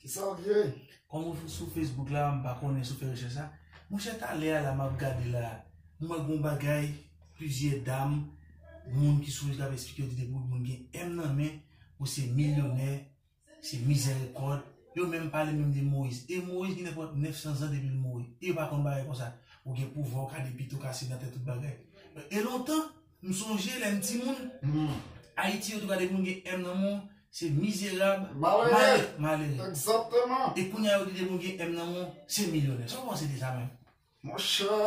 Kisa wap jere? Kòm ou sou Facebook la m pa konnen si w fè rechèch la. Monchè talè a la m ap gade la, m wè gon bagay plizyè dam, moun ki sou rezo ap esplike yo di depi w moun gen M nan men ou se milyonè, se mizèrikòd. Yo menm pale menm de Moyiz. E Moyiz gen nenpòt 900 zan depi l mouri. E yo pa konn bagay konsa. Ou gen pouvwa, ou ka depite, ou ka senatè, tout bagay. E lontan! M sonje lèm timoun Ayiti yo te gade moun gen M nan men w se mizerab, malere. E kounya yo gade moun gen M nan men w se milyonè. Sa w panse de sa menm? Monchè,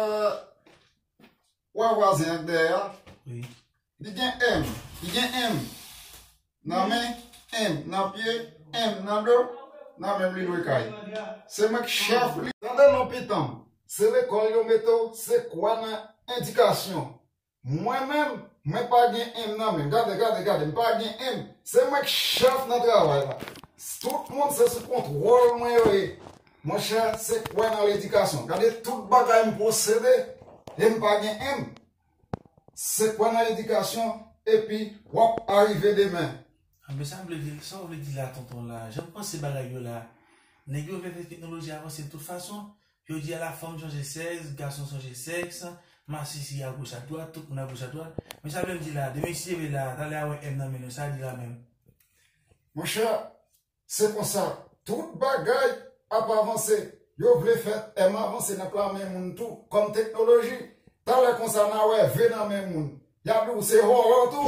wè vwazen an k dèyè a? Wi. Li gen M, li gen M. Nan men, M. Nan pye, M. Nan do, nan menm li lwe kay. Se mwen k chèf li. Tande non pitanm, se lekòl yo mete w se kwa nan endikasyon. Mwen menm, mwen pa gen M nan men. Gade, gade, gade, m pa gen M. Se mwen k chèf nan travay la. Tout moun se sou kontwòl mwen yo ye. Monchè, se kwa nan ledikasyon. Gade tout bagay m posede e m pa gen M. Se kwè nan edikasyon epi wap arive demen. Ah men sa vle di sa ou vle di la tonton la janm panse bagay yo la nèg yo vle fè teknoloji avanse de tout fason jodi a la fanm chanje sèks gason chanje sèks masisi a goch a dwat tout moun a goch a dwat men sa vlem di la demen si leve la talè a wè M nan men nou sa li di la menm. Monchè, Se konsa tout bagay ap avanse. Yo vle fè M avanse nan pla men moun tou kòm teknoloji. Talè konsa na wè V nan men moun. Ya di w se horror tou.